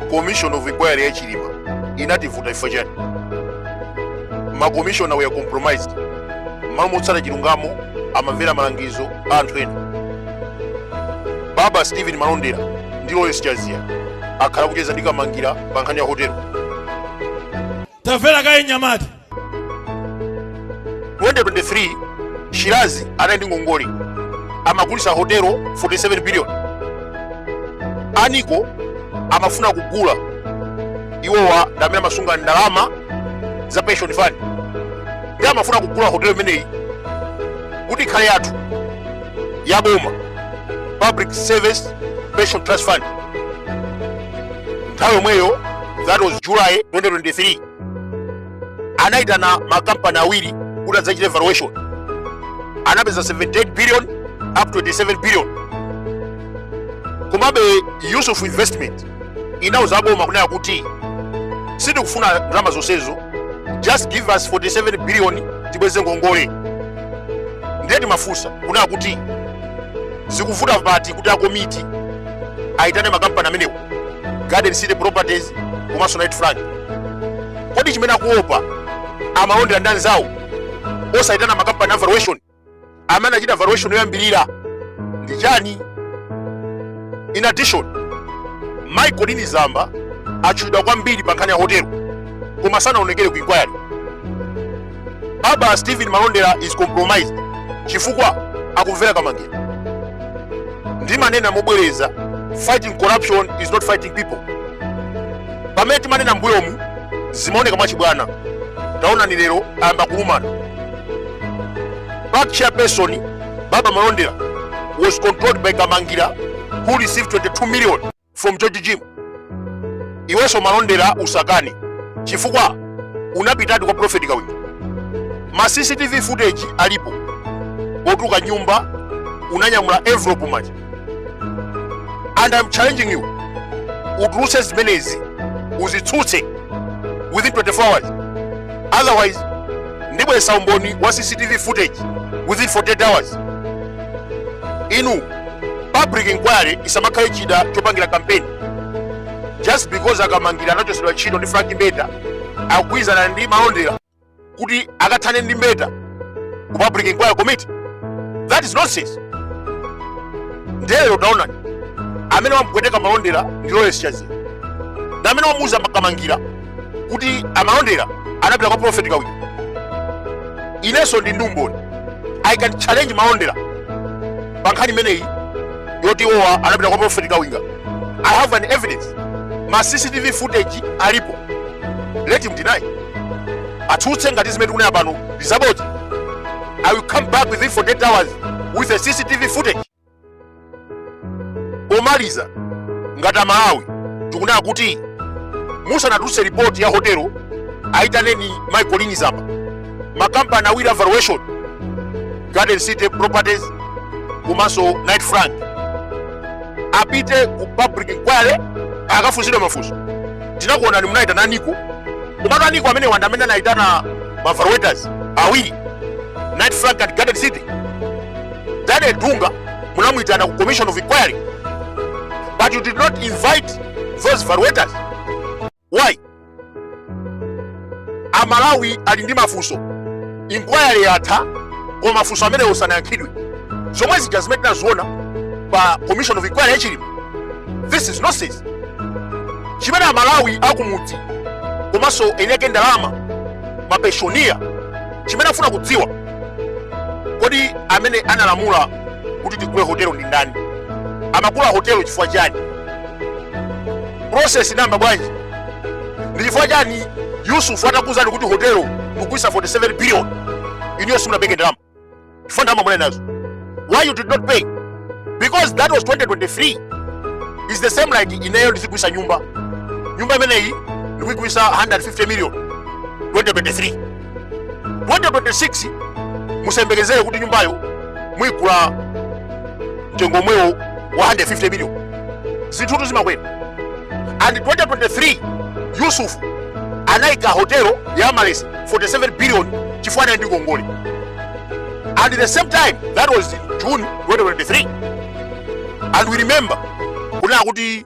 commission of inquiry ya chilima inativuta chifukwa chani makomishona were compromised mmalo motsata chilungamo amamvera malangizo a anthu ena baba stephen malondera ndi loyes chazia akhala akucheza ndi kamangira pa nkhani ya hotelo tamvera kaye nyamata 2023 Shirazi anali ndi ngongole amagulitsa hotelo 47 billion a nico amafuna kugula iwowa ndamene amasunga ndalama za pension fund ndi amafuna kugula hotelo imeneyi kuti ikhale yathu ya boma public service pension trust fund nthawi yomweyo that was july 2023 anaitana makampani awiri kuti adzachite valuation anapeza 78 billion up to 87 billion komabe yusuf investment inauza boma kunena kuti sitikufuna ndalama zonsezo just give us 47 billion tibweze ngongole ndiye timafunsa kunena kuti zikuvuta pati kuti akomiti aitane makampani amenewo garden city properties komanso knight frank kodi chimene akuopa amalondera ndi anzawo osayitana makampani a valuation amene anachita valuation yoyambirira ndi chani in addition mayi colleen zamba atchulidwa kwambiri pa nkhani ya hotelo koma sanaonekere ku inquiry baba stephen malondera is compromised chifukwa akumvera kamangira ndimanena mobwereza fighting corruption is not fighting people pamene timanena mbuyomu zimaoneka mwachibwana taonani lero ayamba kulumana pac chairperson baba malondera was controlled by kamangira who received 22 million from george jim iwenso malondera usakane chifukwa unapitadi kwa profeti kawinga ma cctv footage alipo otuluka mnyumba unanyamula envelope mmanja and i'm challenging you utulutse zimenezi uzitsutse within 24 hours otherwise ndibweretsa umboni wa cctv footage within 48 hours inu public inquiry isamakhale chida chopangira kampeni just because akamangira anachotsedwa ntchito ndi frank mbeta akugwirizana ndi malondera kuti akathane ndi mbeta ku public inquiry committee that is nonsense nde lero taonani amene wamupweteka malondera ndi loyes chazia ndi amene wamuuza kamangira kuti a Malondera anapita kwa profeti Kawinga inenso ndi ndi umboni i can challenge Malondera pa nkhani imeneyi yoti iwowa anapita kwa profeti Kawinga i have an evidence ma cctv footage alipo let him deny atsutse ngati zimene tikunena pano ndizabodza i will come back within 48 hours with a cctv footage Pomaliza, ngati Amalawi tikunena kuti musanatulutse ripoti ya hotelo ayitaneni mayi Colleen Zamba, makampani awiri a valuation Garden City Properties komanso Knight Frank apite ku public inquiry akafunsidwe mafunso. Tinakuonani munayitana a NICO, komatu a NICO amenewa ndi amene anayitana ma valuators awiri Knight Frank and Garden City Daniel Dunga munamuyitana ku commission of inquiry but you did not invite those valuators why amalawi ali ndi mafunso inquiry yatha koma mafunso amenewo sanayankhidwe zomwe zija zimene tinaziona pa commission of inquiry ya Chilima this is nonsense chimene amalawi akumudzi komanso eni ake ndalama mapensioner chimene afuna kudziwa kodi amene analamula kuti tigule hotelo ndi ndani amagula hotelo chifukwa chani process inayamba bwanji ndi chifukwa chani yusufu atakuuzani kuti hotelo tikugulisa 47 billion inuyo simunapereke ndalama chifukwa ndalama munali nazo why you did not pay because that was 2023 it's the same like ineyo ndizigulisa nyumba nyumba imeneyi ndikuigulisa 150 million 2023 2026 musayembekezere kuti nyumbayo muyigula mtengo omwewo wa 150 million zinthutu zimakwera and 2023 yusufu anayika hotelo ya Amaryllis 47 billion chifukwa anali ndi ngongole and the same time that was june 2023 and we remember kunena kuti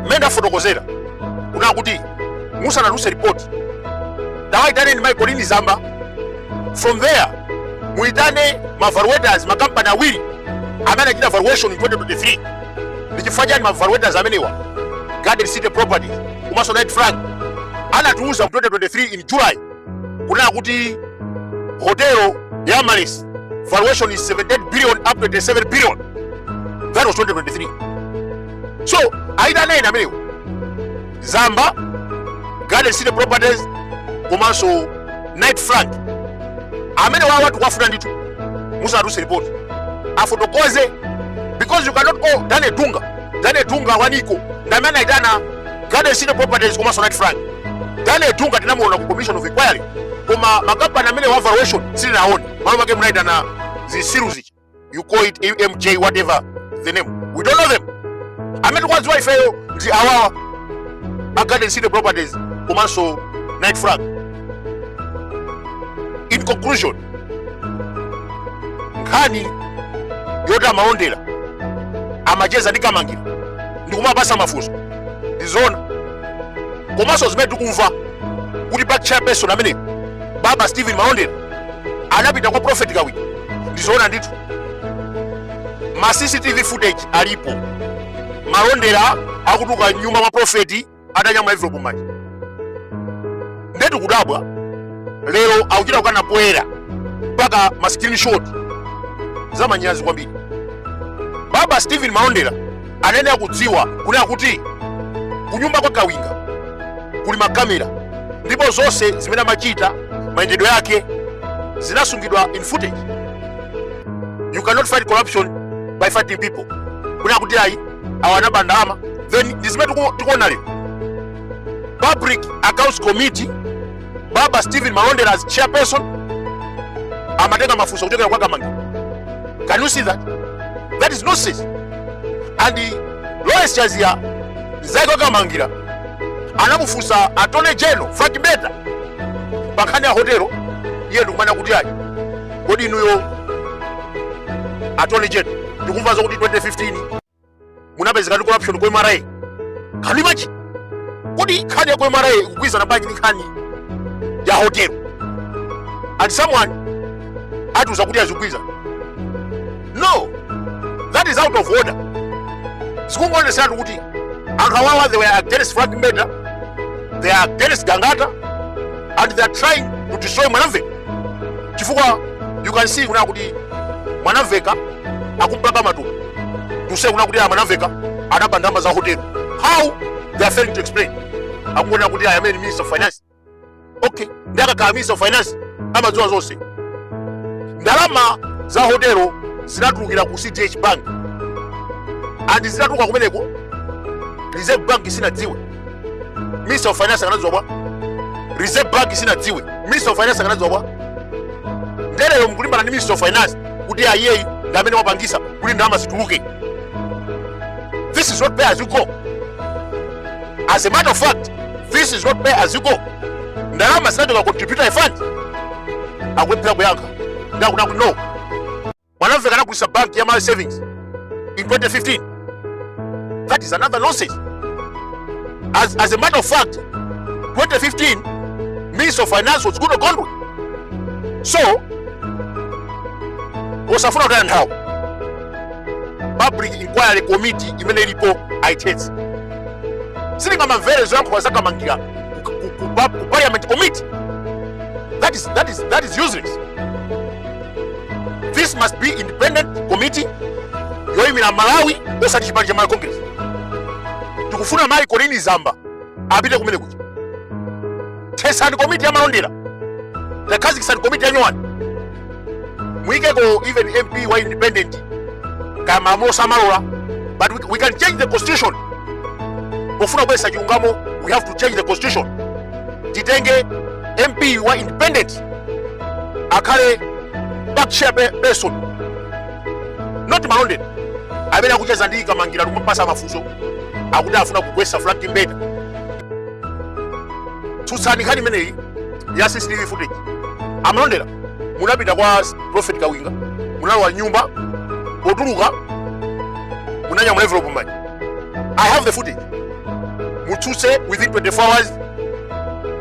mmene ndafotokozera kunena kuti musanatulutse ripoti tawaitaneni mayi Colleen Zamba from there muitane mavaluators makampani awiri amene anachita valuation in 2023 ndi chifukwa chani mavaluators amenewa garden city properties komanso Knight Frank anatiuza mu 2023 in july kunena kuti hotelo ya Amaryllis valuation is 78 billion up to 27 billion that was 2023 so aitaneni amenewo zamba garden city properties komanso Knight Frank amenewawa tikuwafuna ndithu musanatulutse report afotokoze because you cannot call Daniel Dunga Daniel Dunga wa NICO ndamene aitana Garden City Properties komanso Knight Frank. Daniel Dunga tinamuona ku Commission of Inquiry koma makampani amenewa valuation sitinaone. Malo make munaitana zisiruzi. You call it EMJ whatever the name. We don't know them. Amene tikuwaziwa ifeyo ndi awawa. A Garden City Properties komanso Knight Frank. In conclusion, nkhani yoti a malondera amacheza ndi kamangira ndikumapasa mafunso ndi zoona komanso zimene tikumva kuti pac chairperson amene baba stephen malondera anapita kwa prophet kawiri ndi zoona ndithu ma cctv footage alipo malondera akutuluka mnyumba mwa profeti atanyamula envelopu mmanja ndetu kudabwa lero akuchita kukana poyera mpaka ma screenshot za manyazi kwambiri baba stephen malondera anayenera kudziwa kunena kuti kunyumba kwa kawinga kuli makamera ndipo zonse zimene amachita mayendedwe yake zinasungidwa in footage you cannot fight corruption by fighting people kunena kuti ayi awa anaba ndalama then ndi zimene tiku- tikuona lero public accounts committee baba stephen malondera as chairperson amatenga mafunso kuchokera kwa kamangira can you see that that is nonsense and eh, lawrence chaziya mzake wa kamangira anamufunsa attorney general frank mbeta pankhani ya hotelo iye ndikumanena kuti ayi kodi inuyo attorney general ndikumva zokuti 2015 munapezeka ndi corruption ku mra can you imagine kodi nkhani ya ku mra ikugwirizana bwanji ndi nkhani ya hotelo and someone atiuza kuti azigwirizana no that is out of order zikungoonetseratu kuti anthu awawa they were against frank mbeta they are against gangata and they are trying to destroy mwanamveka chifukwa you can see kuna kuti mwanamveka akumpaka matumbo to say kuna kuti aya mwanamveka anaba ndalama za hotelo how they are failing to explain akungonena kuti aya amene minister of finance okay ndi akakhala minister of finance amadziwa zonse ndalama za hotelo zinatulukira ku cdh bank and zinatuluka kumeneko reserve bank sinadziwe minister of finance akanadziwa bwa reserve bank sinadziwe minister of finance akanadziwa bwa nde lero mkulimbana ndi minister of finance kuti ayeyi ndi amene wapangisa kuti ndalama zituluke this is not pay as you go as a matter of fact this is not pay as you go ndalama zinachoka ku contributory fund akulephera kuyankha nde akuna kuti no Malawi anagulisa bank ya Malawi Savings in 2015. That is another nonsense. As, as a matter of fact, 2015 Minister of Finance was Goodall Gondwe. So, osafuna kutaya nthawi public inquiry committee imene ilipo aithetse sitingamamvere zoyankhula za Kamangira ku- ku- ku pa- ku parliament committee that is, that is, that is useless this must be independent committee yoyimira amalawi osati chipani cha malawi congress tikufuna mayi colleen zamba apite kumene kuja thesani komiti ya malondera akhazikitse komiti yanyowani muyikeko even mp wa independent kaya malamulo samalola but we, we can change the constitution pofuna kubweza chilungamo we have to change the constitution titenge mp wa independent akhale pa chairperson not malondera amene akucheza ndi kamangira kumupasa mafunso akuti afuna kugwesa frank mbeta tsutsani nkhani imeneyi ya cctv footage amalondera munapita kwa prophet kawinga munalowa mnyumba potuluka munanyamula envelope mmanja i have the footage mutsutse within 24 hours